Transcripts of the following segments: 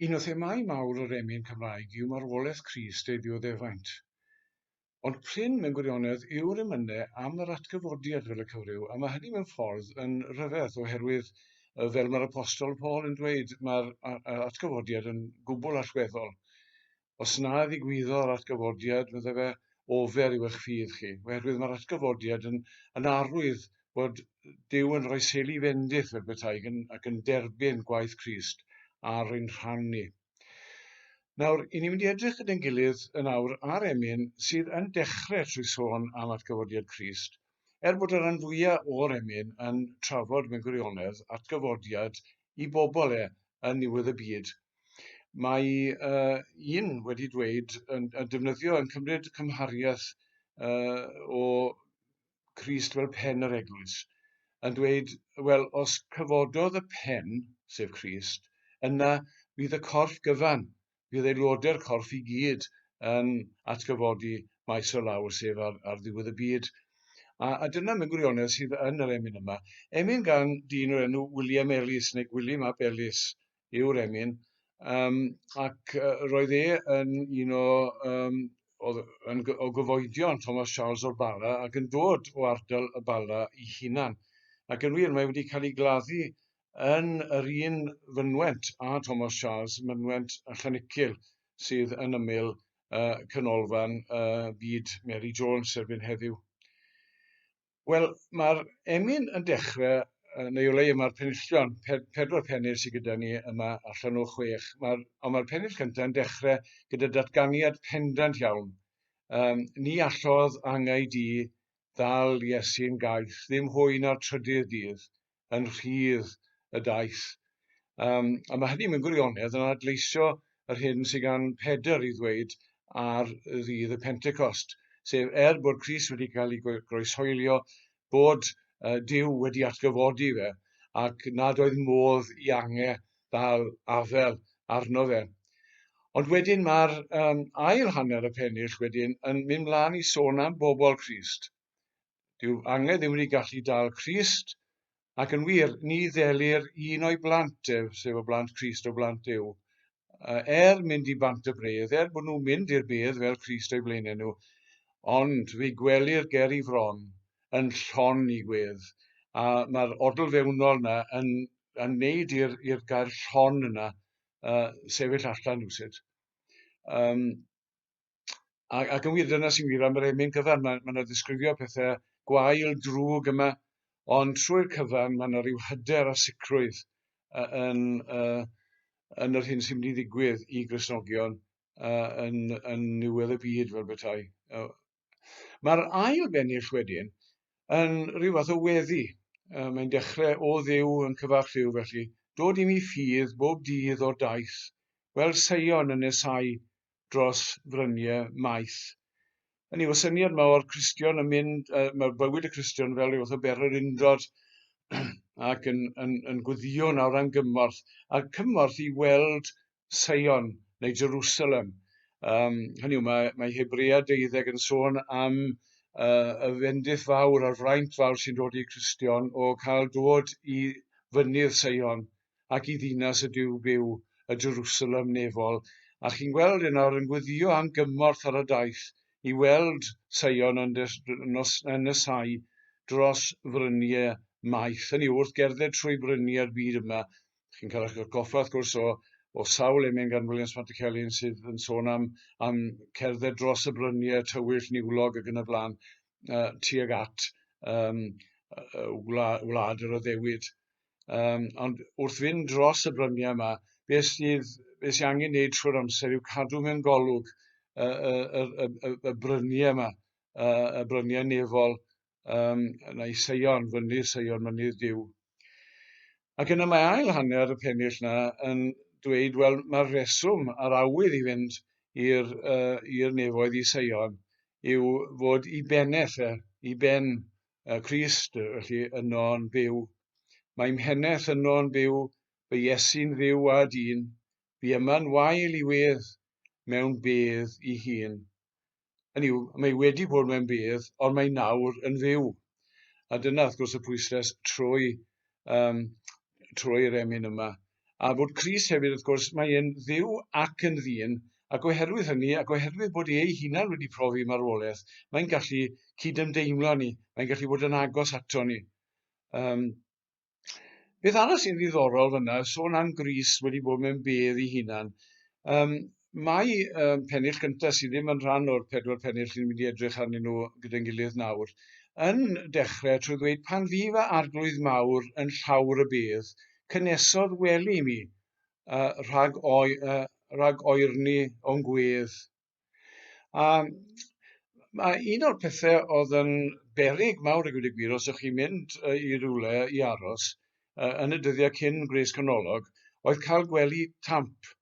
Un o themâu mawr yr emyn Cymraeg yw marwolaeth Crist ei ddioddefaint. Ond prin mewn gwirionedd yw'r emyne am yr atgyfodiad fel y cyfryw, a mae hynny mewn ffordd yn rhyfedd, oherwydd fel mae'r Apostol Paul yn dweud, mae'r atgyfodiad yn gwbl allweddol. Os na ddigwyddo'r atgyfodiad, meddai fe, ofer yw eich ffydd chi, oherwydd mae'r atgyfodiad yn, yn arwydd bod Duw yn rhoi seli fendith fel petai yn, ac yn derbyn gwaith Crist ar ein rhan ni. Nawr, i ni'n mynd i edrych gyda'n gilydd yn awr ar emyn sydd yn dechrau trwy sôn am atgyfodiad Crist, Er bod y rhan fwyaf o'r emyn yn trafod mewn gwirionedd atgyfodiad i bobl e yn niwedd y byd, mae uh, un wedi dweud yn, yn defnyddio yn cymryd cymhariaeth uh, o Christ fel pen yr eglwys, yn dweud, wel, os cyfododd y pen, sef Christ, yna bydd y corff gyfan bydd aelodau'r corff i gyd yn atgyfodi maes o law, sef ar, ar ddiwedd y byd. A, a dyna mewn gwirionedd sydd yn yr emyn yma. Emyn gan dyn o'r enw William Ellis, neu Gwilym ap Ellis yw'r emyn, um, ac uh, roedd e yn un o um, oedd yn, o gyfoedion Thomas Charles o'r Bala ac yn dod o ardal y Bala i hunan. Ac yn wir, mae wedi cael ei gladdu yn yr un fynwent â Thomas Charles, mynwent a Chanicil sydd yn ymyl uh, Canolfan uh, Byd Mary Jones erbyn heddiw. Wel, mae'r emyn yn dechrau, uh, neu o leia mae'r penillion, pe pedwar pennill sydd gyda ni yma allan o chwech, mae, ond mae'r pennill cyntaf yn dechrau gyda datganiad pendant iawn. Um, ni allodd angau di ddal Iesu'n gaeth, ddim hwy na'r trydydd dydd, yn rhydd y daith. Um, a mae hynny mewn gwirionedd yn adleisio yr hyn sydd gan Pedr i ddweud ar ddydd y Pentecost, sef er bod Cris wedi cael ei groeshoelio, bod uh, Dyw wedi atgyfodi fe, ac nad oedd modd i ange ddal afel arno fe. Ond wedyn mae'r um, ail hanner y pennill wedyn yn mynd mlaen i sôn am bobl Christ. Dyw anged ddim wedi gallu dal Crist, ac yn wir, ni ddelir un o'i blant ef, sef y blant Crist o blant Dyw, er mynd i bant y bredd, er bod nhw'n mynd i'r bedd fel Crist o'i blaenau nhw, ond fe gwelir ger i fron yn llon i gwedd, a mae'r odl fewnol yna yn, yn neud i'r gair llon yna uh, sefyll allan rhywsut. Um, ac, ac yn wir, dyna sy'n wir am yr emyn cyfan. Mae, mae yna ddisgrifio pethau gwael, drwg yma, ond trwy'r cyfan mae yna rhyw hyder a sicrwydd uh, yn, uh, yn yr hyn sy'n mynd i ddigwydd i Grisnogion uh, yn, yn niwedd y byd fel bethau. Uh, Mae'r ail bennill wedyn yn rhyw fath o weddi. Uh, mae'n dechrau o ddiw yn cyfarch ddiw felly, dod i mi ffydd bob dydd o'r daith, gweld Seion yn nesau dros frynie maeth. Yn yw'r syniad yma o'r Cristion yn mynd, uh, mae'r bywyd y Cristion fel yw wrth ber yr undod ac yn, yn, yn gwyddio nawr am gymorth, a cymorth i weld Sion neu Jerusalem. Um, hynny yw, mae, mae Hebrea deuddeg yn sôn am uh, y fendith fawr a'r fraint fawr sy'n dod i Cristion o cael dod i fynydd Seion ac i ddinas y Duw byw, y Jerusalem nefol, a chi'n gweld e nawr yn gweddio am gymorth ar y daith i weld Seion yn, nos, yn nesau dros fryniau maith. Hynny wrth gerdded trwy bryniau'r byd yma. Chi'n cael eich goffa, wrth gwrs, o, o sawl emyn gan Williams Marticelli'n sydd yn sôn am, am cerdded dros y bryniau tywyll, niwlog ac yn y blaen, uh, tuag at um, wlad, wlad yr oddewyd. Um, ond wrth fynd dros y bryniau yma, beth sydd, beth sydd angen wneud trwy'r amser yw cadw mewn golwg y, y, y, y, y bryniau yma, y, y bryniau nefol, um, yna i Seion, fyny'r Seion, mynydd Dyw. Ac yna mae ail hanner y pennill yna yn dweud, wel, mae'r reswm a'r awydd i fynd i'r uh, nefoedd i Seion yw fod i beneth e, i ben y Crist, felly yno'n fyw. Mae mheneth yno'n fyw, fy Iesu'n fyw a dyn, fi yma'n wael i wedd mewn bedd i hun. Yn yw, mae wedi bod mewn bedd, ond mae nawr yn fyw. A dyna, wrth gwrs, y pwysles trwy, um, trwy'r emyn yma. a bod Crist hefyd, wrth gwrs, mae e'n Dduw ac yn ddyn, ac oherwydd hynny, ac oherwydd bod e ei hunan wedi profi marwolaeth, mae'n gallu cydymdeimlo ni, mae'n gallu bod yn agos ato ni. Um, beth arall sy'n ddiddorol fyna, sôn am Gris wedi bod mewn bedd i hunan, um, Mae um, pennill gyntaf sydd ddim yn rhan o'r pedwar pennill sy'n mynd i edrych arnyn nhw gyda'n gilydd nawr, yn dechrau trwy ddweud pan fydd y arglwydd mawr yn llawr y bydd, cynnesodd wely mi, uh, rhag, oi, uh, rhag oerni o'n gwedd. A mae un o'r pethau oedd yn berig mawr ag wedi gwir, os ydych chi'n mynd uh, i rywle i aros, uh, yn y dyddiau cyn gwres canolog, oedd cael gwely tamp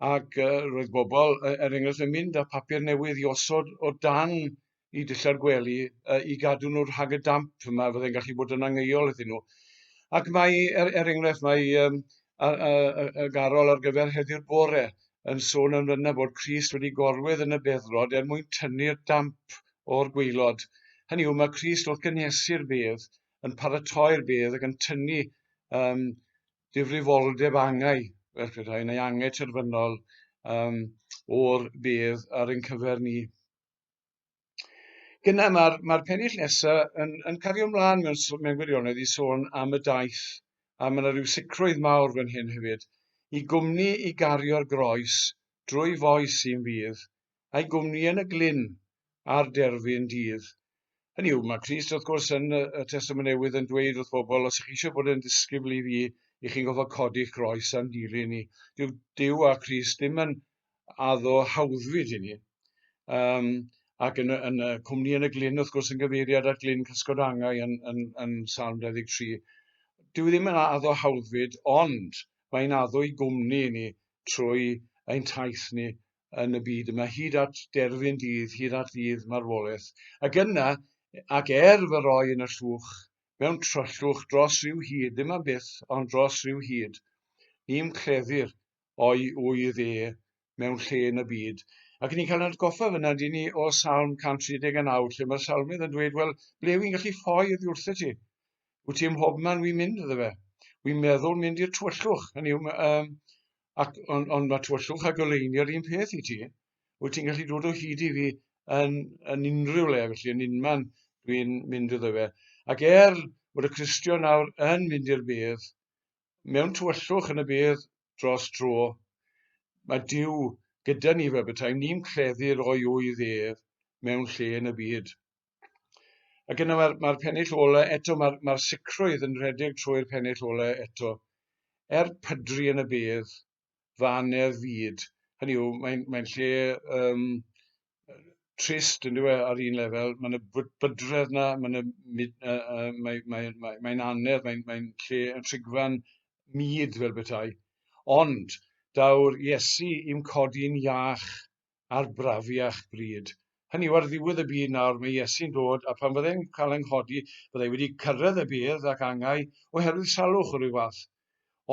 Ac uh, roedd bobl, uh, er enghraifft, yn mynd â papur newydd i osod o dan i dillau'r gwely uh, i gadw nhw rhag y damp. Mae fydde'n gallu bod yn angheuol iddyn nhw. Ac mae, er, er enghraifft, mae um, a, a, a, a garol ar gyfer heddiw'r bore yn sôn am yna bod Cris wedi gorwedd yn y beddrod er mwyn tynnu'r damp o'r gweilod. Hynny yw, mae Cris wrth gynhesu'r bedd, yn paratoi'r bedd ac yn tynnu um, difrifoldeb angau, fel petai, neu angau terfynol um, o'r bedd ar ein cyfer ni. Gyna mae'r mae pennill nesaf yn, yn cario ymlaen mewn, mewn gwirionedd i sôn am y daith, a mae yna rhyw sicrwydd mawr fan hyn hefyd, i gwmni i gario'r groes drwy foes sy'n fydd, a'i gwmni yn y glyn a'r derfyn dydd. Hynny yw, mae Crist wrth gwrs yn y Testament Newydd yn dweud wrth bobl, os ych chi eisiau bod yn ddisgybl i fi, i chi'n gofod codi'ch groes a'n dilyn i. Dyw Dyw a Crist ddim yn addo hawddfyd i ni. Um, Ac yn y, yn y cwmni yn y glyn, wrth gwrs, yn gyfeiriad at glyn cysgod angau yn, yn, yn Salm 23. Dyw e ddim yn addo hawddfyd, ond mae'n addo i gwmni i ni trwy ein taith ni yn y byd yma, hyd at derfyn dydd, hyd at ddydd marwolaeth. Ac yna, ac er fy roi yn y llwch, mewn tryllwch dros rhyw hyd, ddim am byth, ond dros rhyw hyd, ni'n cleddu'r o'i wydd e mewn lle yn y byd. Ac ni'n cael atgoffa fyna, dyn ni, o Salm 139, lle mae'r salmydd yn dweud, wel, ble wy'n gallu ffoi oddi wrth y ti? Wyt ti ym mhob man wy'n mynd iddo fe? Wy'n meddwl mynd i'r twyllwch, hynny yw, um, ac ond ond ma' tywyllwch a goleuni yr un peth i ti. Wyt ti'n gallu dod o hyd i fi yn yn unrhyw le felly yn unman dwi'n mynd iddo fe. Ac er bod y Cristion nawr yn mynd i'r bedd, mewn tywyllwch yn y bedd dros dro, mae Duw gyda ni fel betaem ni'n cleddu'r o'i ŵydd ef mewn lle yn y byd. Ac yna mae'r mae pennill ola eto, mae'r mae sicrwydd yn rhedeg trwy'r pennill ola eto. Er pydru yn y bydd, fa anedd fyd. Hynny yw, mae'n mae lle um, trist yn dweud ar un lefel, mae'n y bydredd yna, mae'n uh, uh, mae, mae, mae, mae anedd, mae'n mae lle yn trigfan myd fel bethau. Ond, daw'r Iesu i'm codi'n iach a'r brafiach bryd. Hynny yw, ar ddiwedd y byd nawr, mae Iesu'n dod, a phan fyddai'n cael yng nghodi, fyddai wedi cyrraedd y bedd ac angau oherwydd salwch o ryw fath.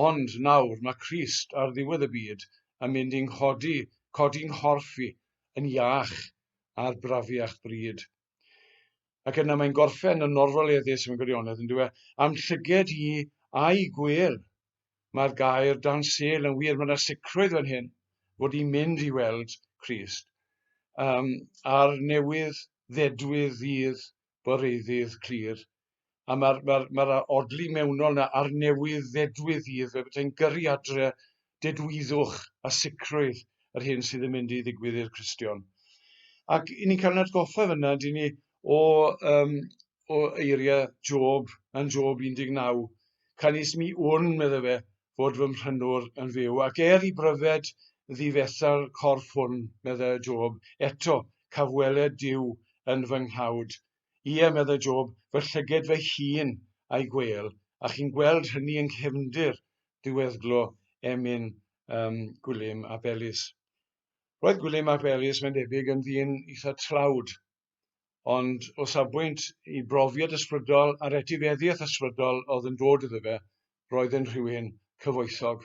Ond nawr, mae Crist, ar ddiwedd y byd, yn mynd i'n nghodi, codi nghorff i, yn iach, a'r brafiach bryd. Ac yna mae'n gorffen yn norfaleddus mewn gwirionedd, yn dweud, am llyged i a'i gwir. Mae'r gair dan sel yn wir, mae yna sicrwydd fan hyn fod i'n mynd i weld Christ. Um, a'r newydd ddedwydd ddydd boreiddydd clir a mae'r ma ma odli mewnol na a'r newydd ddedwydd fydd, fe bydai'n gyrru adre dedwyddwch a sicrwydd yr hyn sydd yn mynd i ddigwydd i'r Cristion. Ac i ni'n cael yn atgoffa fyna, dyn ni o, um, o eiriau Job yn Job 19, canis mi wn, medde fe, fod fy mhrynwr yn fyw, ac er i bryfed ddifetha'r corff hwn, medde Job, eto cafweled Dyw yn fy nghawd Ie, meddai Job, fy llyged fy hun a'i gwêl, a chi'n gweld hynny yng nghefndir diweddglo emyn um, Gwilym ap Elis. Roedd Gwilym ap Elis, mae'n debyg, yn ddyn eitha tlawd, ond o safbwynt i brofiad ysbrydol a'r etifeddiaeth ysbrydol oedd yn dod iddo fe, roedd yn rhywun cyfoethog.